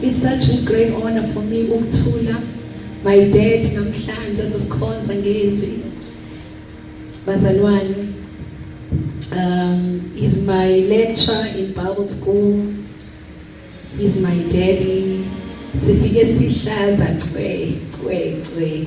It's such a great honor for me ukuthula my dad namhlanje azosikhonza ngezwi bazalwane um is my lecturer in Bible school is my daddy sifike sihlaza cwe cwe cwe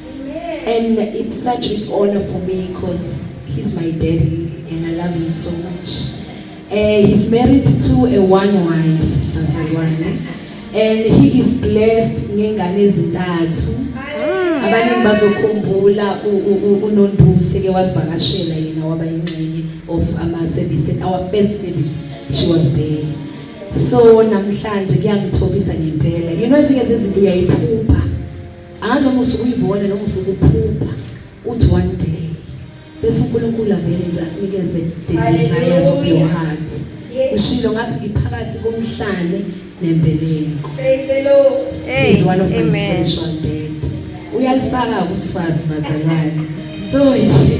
And it's such an honor for me because he's my daddy and I love him so much. Uh, he's married to a one wife bazalwane and he is blessed ngengane ezintathu mm. abaningi bazokhumbula unonduse ke wazivakashela yena waba ingxenye of ama service our first service she was there so namhlanje kuyangithobisa ngempela you know ezinye zezinto uyayiphupha angazi noma usuke uyibona noma usuke uphupha uthi one day bese uNkulunkulu avele nje akunikeze the desires of your heart ushilo ngathi ngiphakathi komhlane nembeleko praise the lord hey, is one of my special dad uyalifaka kusfazi bazalwane so nje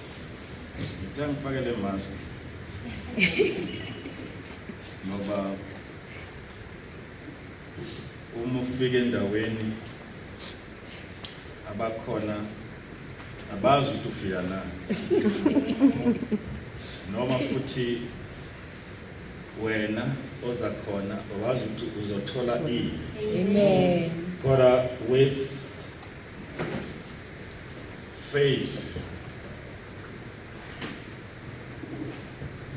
Ngithe ngifake le mask. Ngoba uma ufika endaweni abakhona abazi ukuthi ufika na noma futhi wena oza khona awazi ukuthi uzothola ini Amen. kodwa with Faves.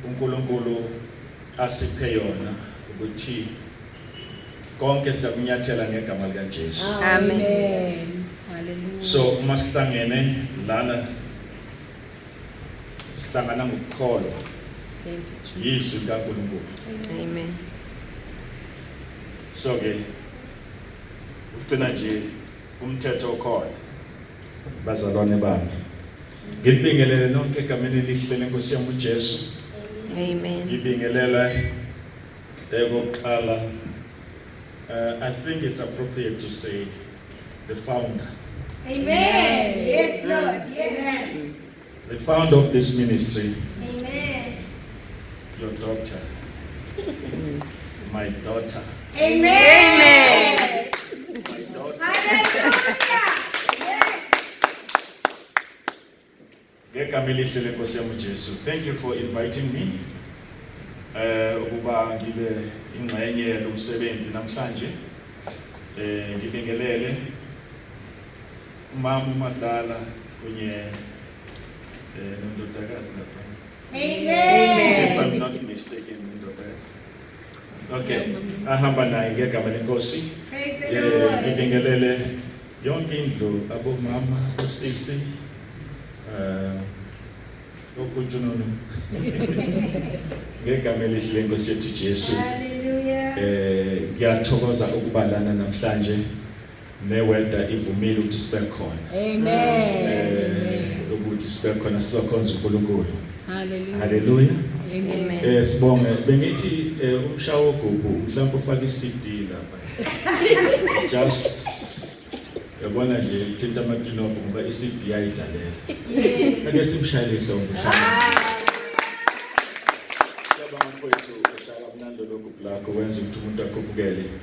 UNkulunkulu asiphe yona ukuthi konke siyakunyathela ngegama lika Jesu. Amen. Hallelujah. So uma sihlangene lana sihlangana ngokukholwa Thank you, Jesus. yizwi likaNkulunkulu. Amen. So ke ugcina nje umthetho okhona. Bazalwane bami, ngibingelele nonke egameni elihle lenkosi yami uJesu. Amen. Ngibingelela eyokuqala. Uh, I think it's appropriate to say the founder. Amen. Yes, Lord. Yes. The founder of this ministry. Amen. Your daughter. My daughter. Amen. My daughter. Hallelujah. ngegama elihle lenkosi yami uJesu thank you for inviting me eh ukuba ngibe ingxenye yalomsebenzi namhlanje eh ngibingelele Umama uMadlala kunye eh, nondodakazi lapha. If I'm not mistaken, ndodakazi. Okay, ahamba naye ngegama lenkosi. Praise the Eh, Lord. Ngibingelele yonke indlu abomama, osisi, eh, okunjununu. Ngegama elihle lenkosi yethu Jesu. Hallelujah. Eh, ngiyathokoza ukubalana namhlanje. ne weather ivumile ukuthi sibe khona Amen. eh ukuthi sibe khona sizokhonza uNkulunkulu Hallelujah. haleluya Amen. eh sibonge bengithi eh, umshawo gugu mhlawumbe ufake iCD lapha just yabona nje thinta amakinobho ngoba iCD ayidlalela ake simshayele ihlombe shaya Siyabonga mfowethu ushaya kamnandi lokhu black wenza ukuthi umuntu akhuphukele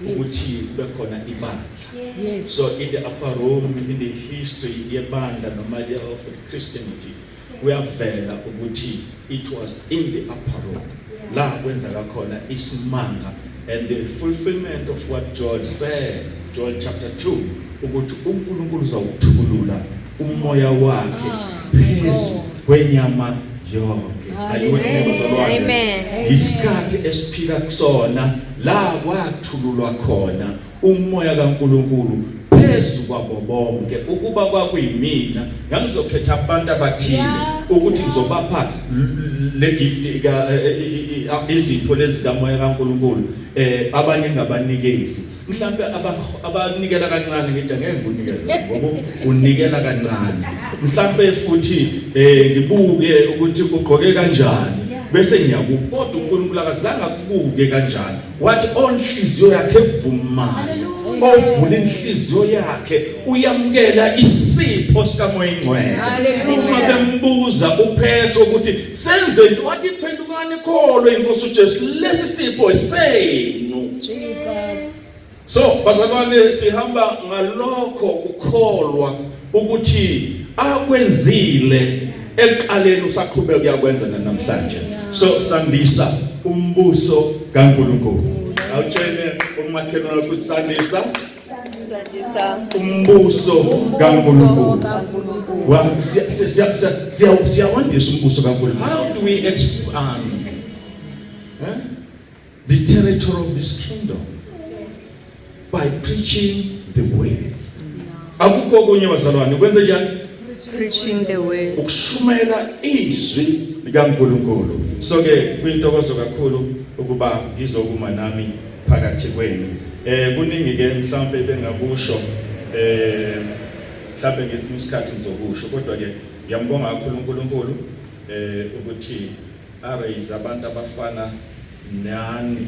ukuthi kube khona ibandla so in the upper room in the history yebandla noma le of christianity kuyavela ukuthi it was in the upper room la kwenzeka khona isimanga and the fulfillment of what Joel said Joel chapter 2 ukuthi uNkulunkulu uzawuthukulula umoya wakhe phezu kwenyama yonke amen isikhathi esiphila kusona la kwathululwa khona umoya kaNkuluNkulu phezu kwabo bonke ukuba kwakuyimina ngangizokhetha abantu abathile ukuthi ngizobapha le gift izinto lezi kamoya kaNkuluNkulu eh abanye ngabanikezi mhlampe abanikela kancane ngithi ngeke ngikunikeze ngoba unikela kancane mhlampe futhi eh ngibuke ukuthi ugqoke kanjani bese ngiyakukodwa uNkulunkulu akazange akubuke kanjani wathi onhliziyo yakhe evumayo ovula inhliziyo yakhe uyamukela isipho sikamoya ingcwele uma bembuza uphetho ukuthi Senze nje wathi phendukani kholwe inkosi uJesu lesi sipho senu. Jesus. So bazalwane sihamba ngalokho ukukholwa ukuthi akwenzile ekuqaleni usaqhubeka uyakwenza namhlanje. So sandisa umbuso kaNkulunkulu. Awutshele umakhelwane ukuthi sandisa umbuso kaNkulunkulu siyawandisa umbuso kaNkulunkulu how do we expand eh? the territory of this kingdom by preaching the word akukho okunye bazalwane kwenze njani preaching the word ukushumayela izwi likaNkulunkulu so ke kwintokozo kakhulu ukuba ngizokuma nami phakathi kwenu eh kuningi ke mhlawumbe bengakusho eh mhlawumbe ngesinye isikhathi ngizokusho kodwa ke ngiyambonga kakhulu uNkulunkulu eh ukuthi araise abantu abafana nani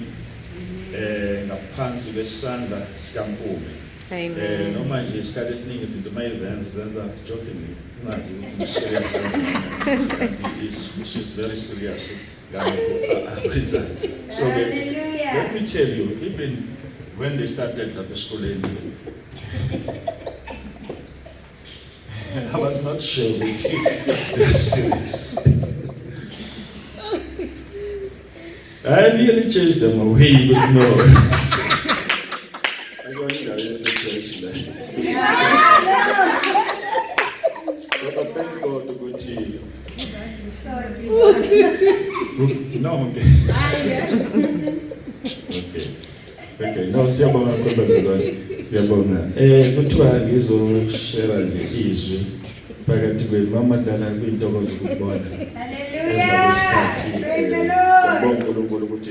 eh ngaphansi kwesandla sikaNkulunkulu Amen. Eh noma nje isikhathi esiningi izinto mayizenza zenza joking ungazi ukuthi serious. It's, it's very serious. so ke let me tell you even when they started lapha esikoleni and I was not sure ukuthi they're serious I nearly chased them away but no No, okay. Okay. Okay. No, siyabonga kodwa zilwane. Siyabonga. Eh kuthiwa ngizoshare nje izwi phakathi kwenu mamadlala kwintokozo ukubona. Hallelujah. Praise the Lord. Siyabonga uNkulunkulu ukuthi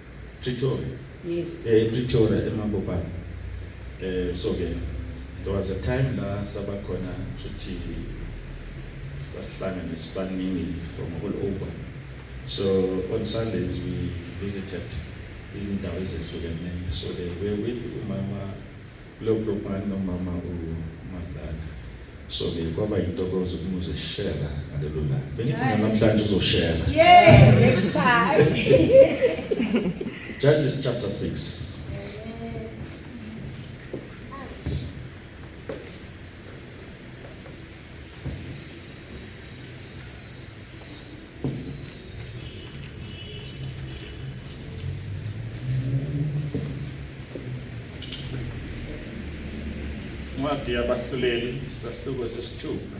Pretoria. Yes. Eh Pretoria eMabopane. Eh so ke there was a time la saba khona futhi sahlangana isibaningi from all over. So on Sundays we visited izindawo ezehlukene. So they were with umama Lo bhubhane nomama u Madlala. So ke kwaba yintokozo ukumuze shela ngalelo langa. Bengithi namhlanje uzoshela. Yeah, next time. Judges chapter 6. incwadi yabahluleli sahluko sesithupha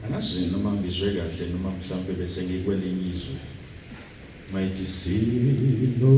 angazi noma ngizwe kahle noma mhlawumbe bese ngikwelinye izwe mayithi sinomhlobo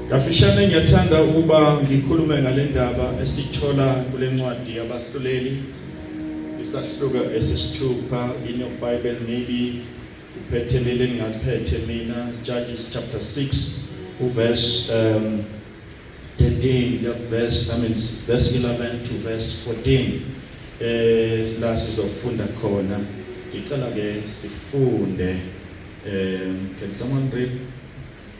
Kafishane ngiyathanda ukuba ngikhulume ngale ndaba esithola kule ncwadi yabahluleli isahluka esisithupha in your bible maybe uphethe leli engingaphethe mina judges chapter 6 uverse um, 13 kuya kuverse I mean verse 11 to verse 14 eh la sizofunda khona ngicela ke sifunde um can someone read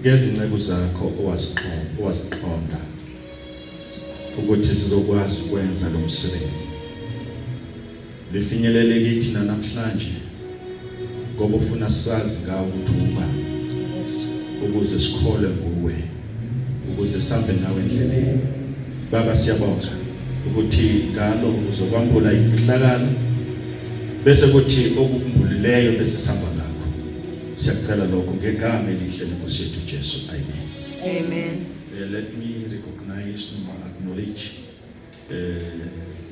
ngezinceku zakho owaziqonda ukuthi sizokwazi ukwenza lo msebenzi lifinyelele kithi namhlanje ngoba ufuna sazi ngawo ukuthi ungubani ukuze sikhole nguwe ukuze sambe nawe endleleni baba siyabonga ukuthi ngalo uzokwambula imfihlakalo bese kuthi okukhumbuleleyo bese samba Siyacela lokho ngegama elihle lenkosi yethu Jesu. Amen. Amen. Uh, let me recognize noma acknowledge uh,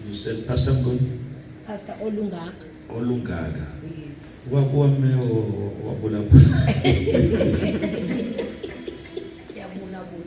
you said Pastor Mngoni? Pastor Olungaka. Olungaka. Yes. Wakwame wabula. Yabula bula.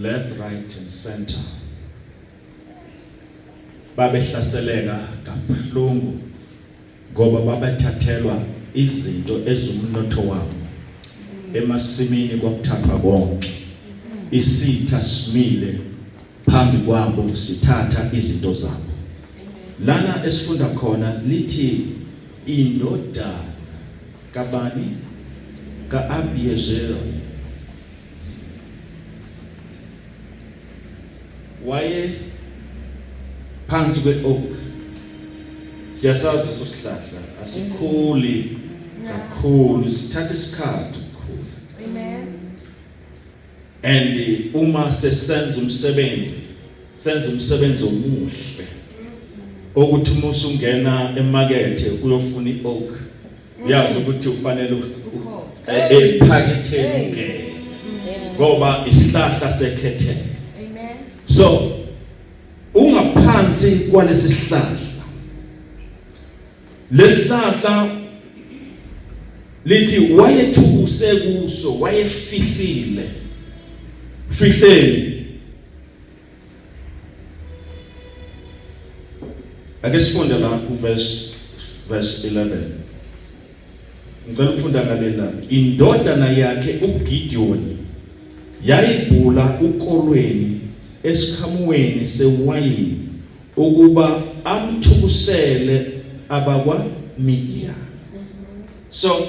left right and center babehlaseleka kabuhlungu ngoba babethathelwa izinto ezumnotho wabo emasimini kwakuthathwa konke isitha simile phambi kwabo sithatha izinto zabo lana esifunda khona lithi indodana kabani kaAbiezeri waye phansi kwe-oak siyasazi leso sihlahla asikhuli kakhulu sithatha isikhathi ukukhula amen and uma sesenza umsebenzi senza umsebenzi omuhle okuthi uma usungena emakethe uyofuna i-oak uyazi ukuthi ufanele ephaketheni eh, eh, ungene ngoba isihlahla sekhethe amen so ungaphansi kwalesi sihlahla lesihlahla lithi wayethukuse kuso wayefihlile fihleni Ake sifunde la ku verse verse 11. Ngicela ukufunda ngaleli la. Indodana yakhe uGidiyoni yayibhula ukolweni esikhamuweni sewayini ukuba amthukusele abakwa Midian. So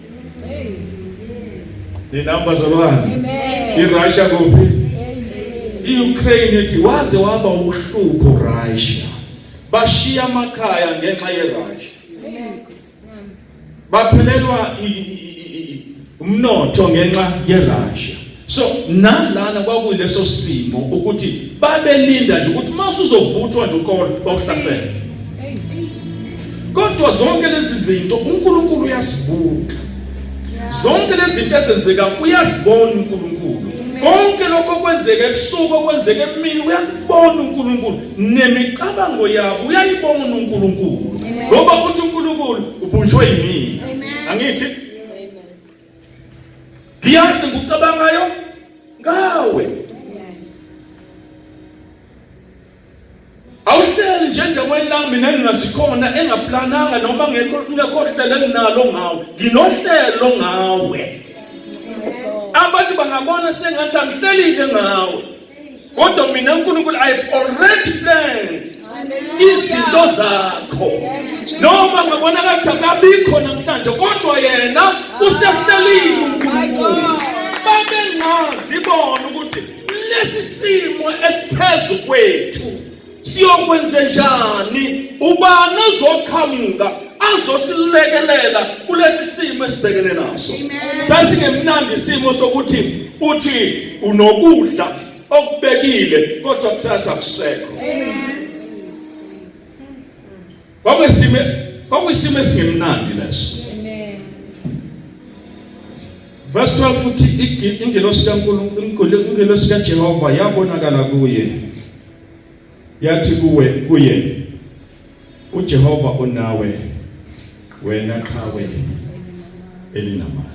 Ninamba zolwandle. IRussia kuphi? IUkraine ithi waze waba ubuhlupho Russia. Bashiya amakhaya ngenxa yeRussia. Baphelelwa umnotho ngenxa yeRussia. so nalana kwakuyileso simo ukuthi babelinda nje ukuthi mase uzovuthwa nje ukolo bawuhlasela kodwa zonke lezi zinto uNkulunkulu uyazibuka zonke lezi zinto ezenzeka uyazibona uNkulunkulu konke lokho kwenzeka ebusuku okwenzeka emini uyakubona uNkulunkulu nemicabango yabo uyayibona uNkulunkulu ngoba uthi uNkulunkulu ubunjwe yini angithi ngiyazi ngikucabangayo ngawe awuhleli nje endaweni la mina ngingasikhona engaplananga noma ngekho ngekho hlelo enginalo ngawe nginohlelo ngawe abantu bangabona sengathi angihlelile ngawe kodwa mina uNkulunkulu I have already planned izinto zakho noma ngabonakala ukuthi akabikho namhlanje kodwa yena usehlelile uNkulunkulu babengazi bona ukuthi lesi simo esiphezulu kwethu Siyokwenzenjani? Ubani ozoqhamuka azosilekelela kulesi simo esibhekene naso? Sasingemnandi isimo sokuthi uthi unokudla okubekile kodwa kusasa kusekho. Amen. Kwakwesime kwakwesime esingemnandi leso. Amen. Verse 12 futhi ingelosi kaNkulunkulu ingelosi kaJehova yabonakala kuye. Yathi kuwe kuye uJehova unawe wena qhawe elinamandla.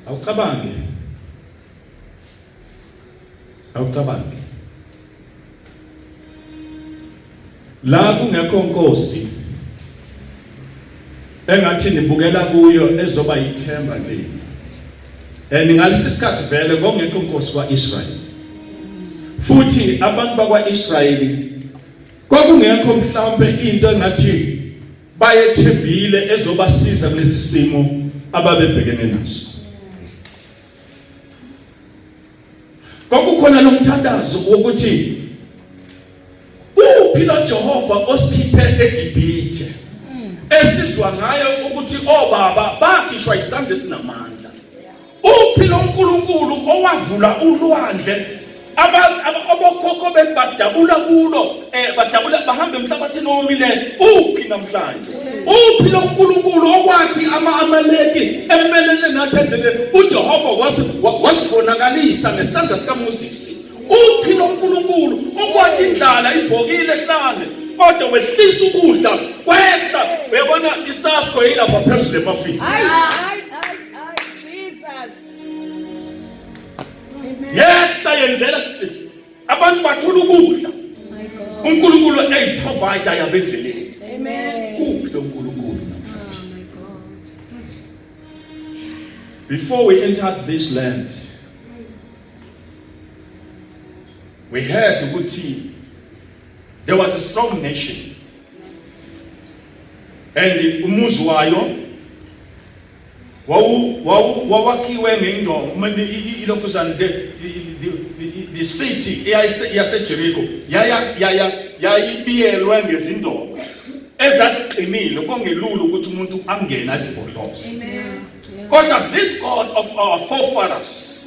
Awucabange awucabangi la kungekho nkosi engathi nibukela kuyo ezoba yithemba lenu and ngalesi sikhathi vele kwakungekho nkosi kwaIsrael futhi abantu bakwaIsrael kwakungekho mhlawumbe into engathi bayethembile ezobasiza kulesi simo ababebhekene naso kwakukhona lo mthandazo wokuthi uphi lo Jehova osikhiphe eGibhithe mm. esizwa ngayo ukuthi obaba oh, bakhishwa isandla esinamandla uphi lo nkulunkulu owavula ulwandle abokhokho benu badabula kulo um badabula bahambe emhlabathini owomile uphi namhlanje uphi lo nkulunkulu okwathi ama-amaleki emelele nathi endleleni ujehova wasibonakalisa ngesandla sikamosisi uphi lo nkulunkulu okwathi indlala ibhokile ehlane kodwa wehlisa ukudla kwehla uyabona isasko yilapha phezulu emafini yehla yenzela abantu bathola ukudla uNkulunkulu eyiprovider yabendleleni amen uphi lo uNkulunkulu oh before we entered this land we heard ukuthi there was a strong nation and umuzi wayo Wawu, wawu, wawakhiwe ngeyindomo, ilokhuzane, the, the, the, the city yaseJeriko yaya yaya yayibiyelwe ngezindomo ezaziqinile kongelula ukuthi umuntu angene azibhodloze. Kodwa this God of our forefathers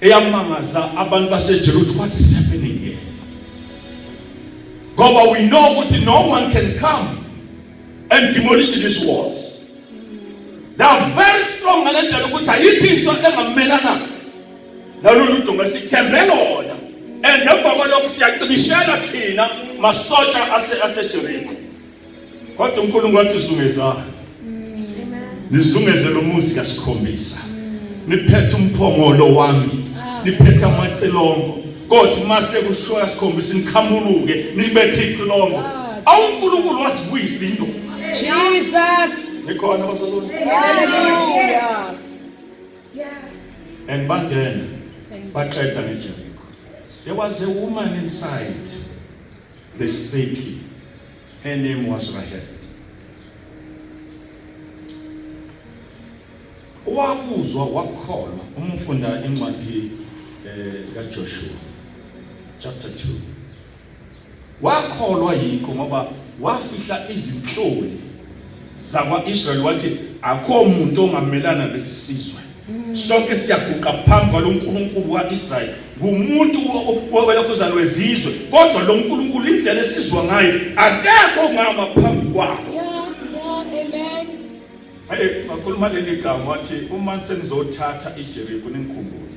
eyamangaza abantu baseJerusalem what is happening here ngoba we know ukuthi no one can come and demolish this wall they are very strong ngalendlela ukuthi ayikho into engamelana nalolu dunga sithembe lona and emva kwalokho siyaqinishela thina masotsha aseJeriko Kodwa uNkulunkulu wathi zungezani. Mm. Nizungeze lo muzi kasikhombisa. Mm. Niphethe umphongolo wami. Ah. Niphethe amacelongo. Kodwa mase kushoya sikhombisa nikhamuluke nibethe icilongo. Ah, Awu uNkulunkulu wasivuyisa into. Jesus. Nikhona bazalwane. Hallelujah. Yeah. And bangena. Baqeda ngeJeriko. There was a woman inside. The city. Her name was Rahel. Wakuzwa wakholwa uma ufunda incwadi eh kaJoshua chapter 2. Wakholwa yikho ngoba wafihla izinhloli zakwa-Israyeli wathi akho muntu ongamelana nesisizwe Mm. sonke siyaguqa phambi kwalo nkulunkulu wa-israyeli ngumuntu welokhuzane wezizwe kodwa lo nkulunkulu indlela esizwa ngayo akekho ongama phambi kwakho aye ngakhuluma leli gama wathi uma senizothatha ijeriko ningikhumbule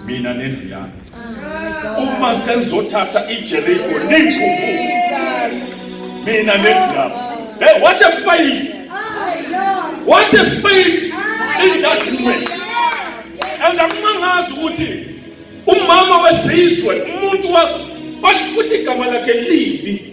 mina nendlu yami ah, uma senizothatha ijeriko ninguku mina nendlu yami hey what a faith what a faith in that woman and akumangazi ukuthi umama wesizwe umuntu wa futhi igama lakhe libi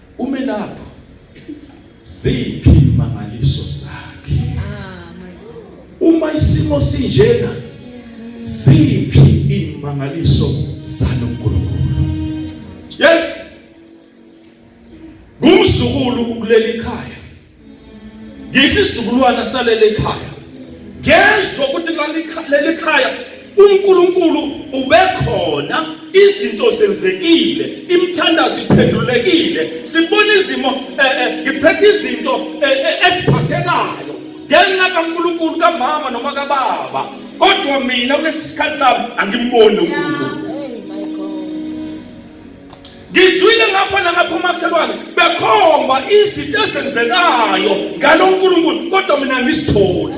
Ume lapho. Ziphi imangaliso zakhe? Uma isimo sinjena ziphi imangaliso zaloNkulunkulu? Yes. Ngumzukulu kuleli khaya. ngiyisizukulwana salele ekhaya ngezwa ukuthi leli khaya uNkulunkulu ubekhona izinto zenzekile imthandazo iphendulekile sibona izimo eh, eh, ngiphethe izinto eh, esiphathekayo ngenxa kaNkulunkulu kamama noma kababa kodwa mina kulesikhathi sami angimboni uNkulunkulu ngizwile ngapha nangapha umakhelwane bekhomba izinto ezenzekayo ngalo nkulunkulu kodwa mina ngisitholi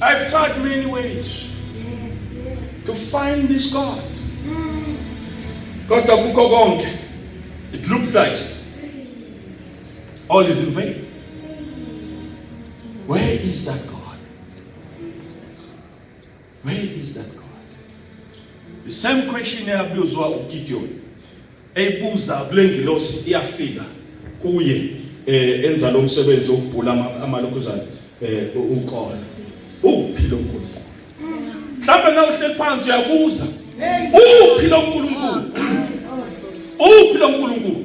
I've tried many ways yes, yes. to find this God. Mm. Kodwa kukho konke. It looks like all is in vain. Where is that God? Where is that God? The same question eyabuzwa uGideon eyibuza kule ngilosi iyafika kuye eh enza lo msebenzi wokubhula amalokuzana eh ukona uphi lo nkulunkulu mhlawumbe na uhleli phansi uyabuza uphi lo nkulunkulu uphi lo nkulunkulu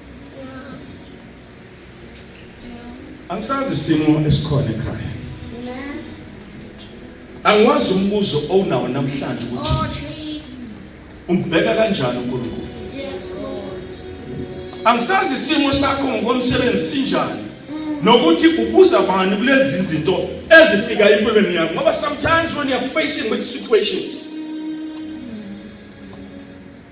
angisazi isimo esikhona ekhaya angiwazi umbuzo owunawo namhlanje ukuthi oh, umbheka kanjani uNkulunkulu angisazi isimo sakho ngokomsebenzi sinjani nokuthi ubuza bani kulezi zinto ezifika empilweni yakho ngoba sometimes when you're facing with situations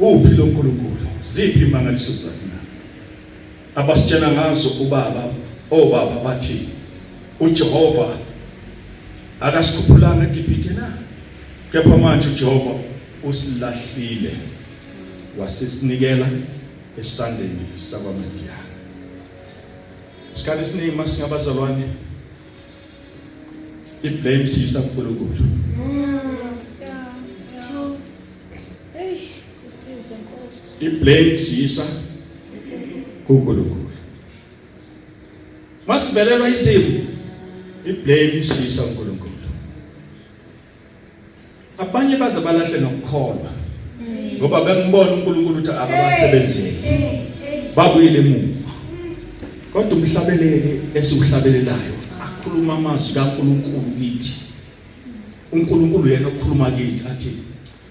Uphi lo Nkulunkulu? Ziphi imangaliso zakhe na? Abasitshela ngazo ubaba, obaba oh, bathi uJehova akasikhuphulanga eGibhithe na? Kepha manje uJehova usilahlile wasisinikela esandleni sakwaMidiyani. Isikhathi esiningi masingabazalwane I blame sisa kuNkulunkulu. I blame sisa kuNkulunkulu. Masivelelwa isimo. I blame sisa kuNkulunkulu. Abanye baze balahle nokukholwa. Ngoba bengibona uNkulunkulu ukuthi akabasebenzeli. Babuyile emuva. Kodwa umhlabeleli esiwuhlabelelayo akhuluma amazwi kaNkulunkulu kithi. uNkulunkulu yena okhuluma kithi athi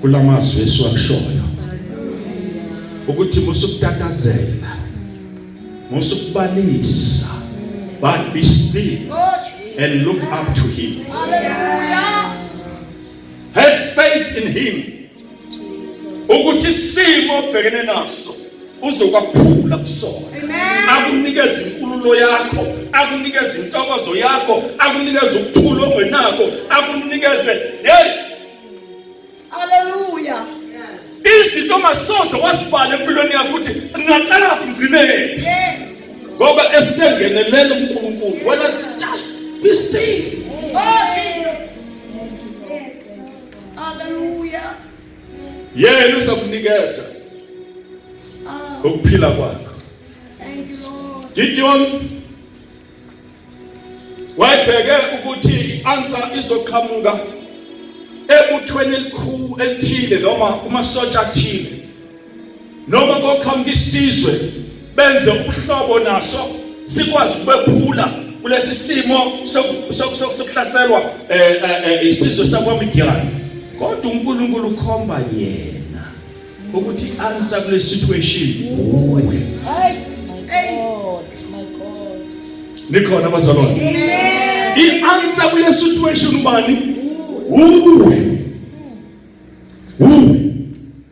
kulamazwi esiwakushoyo ukuthi musukutatazela musukubalisa but be still and look up to him have faith in him ukuthi simo obhekene naso uzokwaphula kusona akunikeza inkululo yakho akunikeza intokozo yakho akunikeza ukuthula ongenako akunikeze hey haleluya izinto ongasoze wasibhala empilweni yakho ukuthi ngaqala ngcinele ngoba esengenelela uNkulunkulu wena just be still oh Jesus yes haleluya yena uzokunikeza oh. ukuphila kwakho Gideon wayebheke ukuthi i-answer izoqhamuka ebuthweni elikhulu elithile noma kumasotsha athile noma koqhamuka isizwe benze ubuhlobo naso sikwazi ukubephula kulesi simo sokuhlaselwa eh, eh, eh, isizwe sakwaMidiyani kodwa uNkulunkulu ukhomba yena ukuthi answer kule situation uwe hayi nikhona abazalwane i-answer kule situation ubani uwe uwe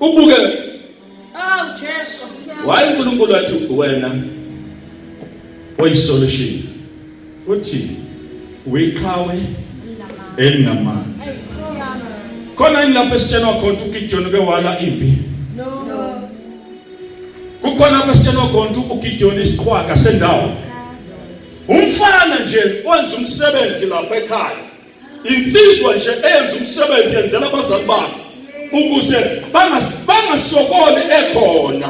ubuke awu jesu waye unkulunkulu wathi wena oyisolution uthi wiqhawe elinamandla khona yini lapho esitshelwa khona ukuthi ugidiyoni uke wala impi kukhona lapho esitshelwa khona ukuthi ugidiyoni isiqhwaga sendawo umfana nje wenza umsebenzi lapha ekhaya insizwa nje eyenza umsebenzi yenzela abazali bayo ukuze bangasokoli ekhona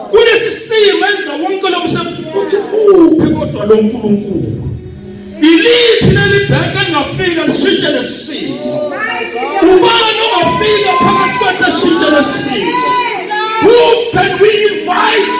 kulesi simo enza wonke lo msebenzi uthi uphi kodwa lo nkulunkulu iliphi leli bhenke engafika lishintshe lesi simo ubani ongafika phakathi kwethu ashintshe lesi simo who can we invite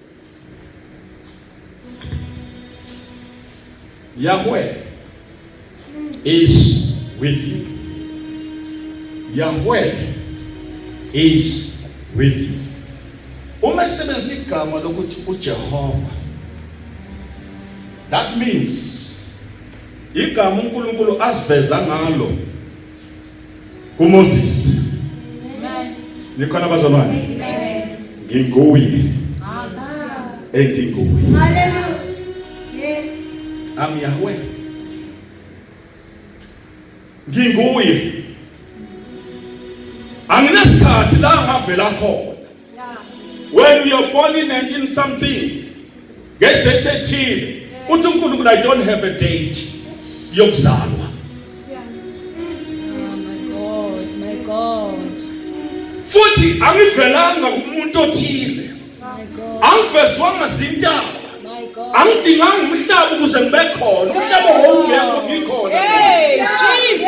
Yahweh is with you. Yahweh is with you. Uma esebenzisa igama lokuthi uJehova that means igama uNkulunkulu asiveza ngalo uMoses nikhona bazalwane nginguye enginguye I'm Yahweh nginguye anginasikhathi la ngavela khona When you are born in 19 something, get date ethile. Uthi uNkulunkulu I don't have a date yokuzalwa. Futhi angivelanga kumuntu othile. Angivezwanga zintaba. Angidinganga umhlaba ukuze ngibe khona. Umhlaba wawungekho ngikhona. Hey, Jesus.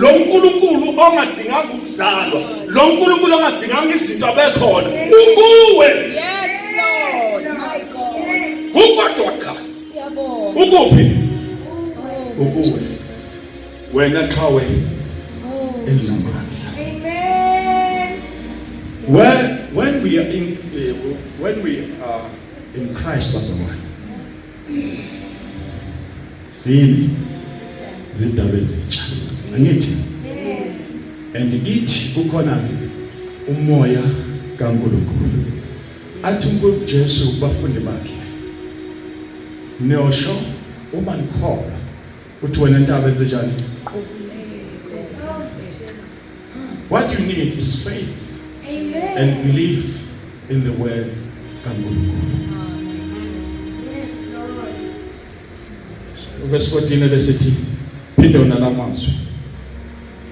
lo nkulunkulu ongadinganga ukuzalwa lo nkulunkulu ongadinganga izinto abekhona ukuwe ukodwa cha ukuphi ukuwe wena qhawe elinamandla when when we are in uh, when we are in Christ bazalwane Sini zindaba ezintsha. Angithi? Yes. And ithi ukhona umoya kaNkulunkulu. Athi uNkulunkulu Jesu kubafundi bakhe. Niyosho uma nikholwa Uthi wena ntaba enze njani? What you need is faith Amen. and belief in the word kaNkulunkulu. Yes, Lord. Verse 14 ebesithi phinde wona lamazwi.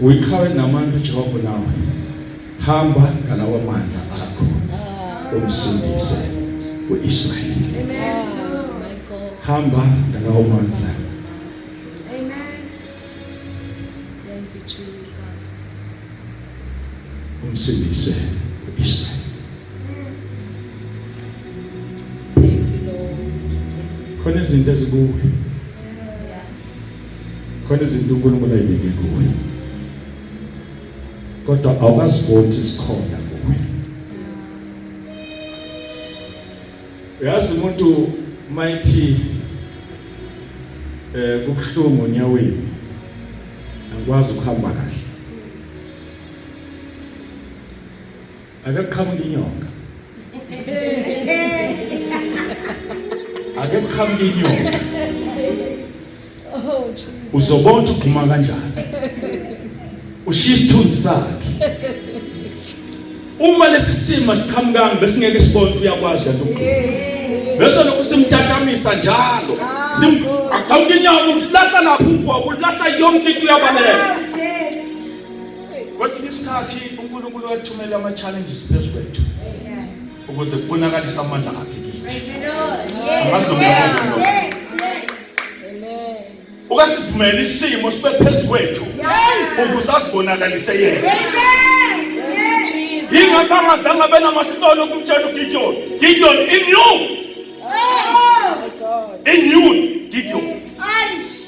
Uyiqhawe namandla uJehova nawe. Hamba ngalawa mandla akho. Umsindise uIsrael. Amen. Hamba ngalawa mandla. Amen. Thank you Jesus. Umsindise uIsrael. Thank you Lord. Khona izinto ezikuwe. khona izinto uNkulunkulu ayibeke kuwe kodwa awukaziboni sikhona kuwe uyazi umuntu mayithi eh kubuhlungu onyaweni angikwazi ukuhamba kahle Akaqhamuka inyoka. Akaqhamuka inyoka. Oh Jesus. Uzobona ukuthi ugxuma kanjani. Ushiya isithunzi sakhe. Uma lesi simo siqhamukanga besingeke sibone ukuthi uyakwazi kanti ukhona. Yes. Bese lokhu simtatamisa njalo. Sim aqhamuka inyoka ulahla lapho ubhobo ulahla yonke into uyabaleka. Kwesinye isikhathi uNkulunkulu wathumela ama challenges phezu kwethu ukuze kubonakalise amandla akhe kithi. Ukasivumela isimo sibe phezu kwethu ukuze asibonakalise yena. Yingakho angazange abe namahlolo kumtshela uGideon, Gideon in you. Oh my God. In you Gideon.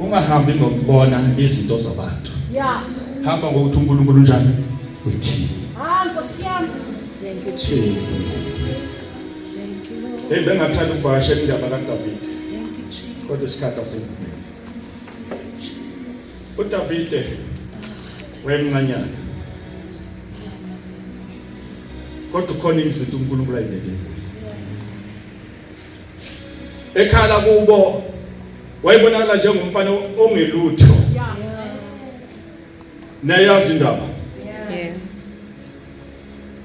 ungahambi ngokubona izinto zabantu hamba ngokuthi unkulunkulu unjani uthini eyi bengathanda ukuvakasha indaba kadavide kodwa isikhathi asivumeli udavide wayemncanyana kodwa ukhona izinto unkulunkulu ayibekele ekhala kubo wayebonakala njengomfana ongelutho nayazi indaba yeah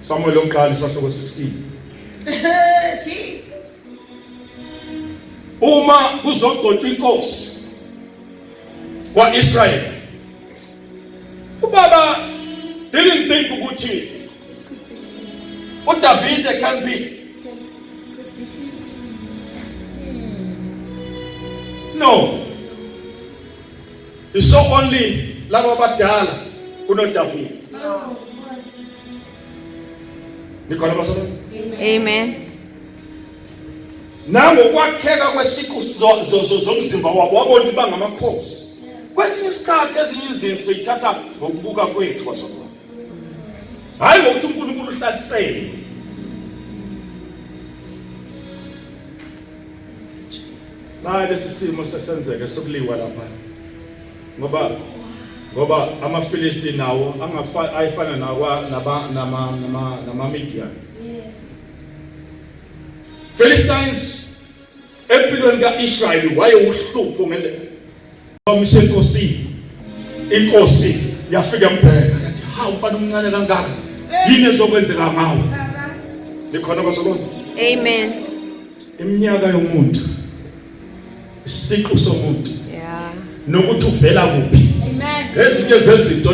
Samuel lokuqala isahluko 16 Jesus Uma kuzogcotshwa inkosi kwaIsrael ubaba didn't think ukuthi uDavide can be no you saw only laba abadala kunoDavide nikhona basona amen nango kwakheka kwesiqu zomzimba wabo wabona ukuthi bangamakhosi kwesinye isikhathi ezinye izinto siyithatha ngokubuka kwethu basona hayi ngokuthi uNkulunkulu uhlalisele naye lesi simo sesenzeke sokuliwa lapha ngoba ngoba amaFilisti nawo angafana ayifana nawa naba nama nama nama Midian yes Philistines Empilweni ka-Israyeli wayewuhlupho ngendlela. Bamisa enkosini. Inkosi yafika embheka yathi, "Ha, umfana omncane kangaka. Yini ezokwenzeka ngawe?" Likhona kwasolona. Amen. Iminyaka yomuntu. Isiqu somuntu. Yeah. Nokuthi uvela kuphi. Amen. Ezinye zezinto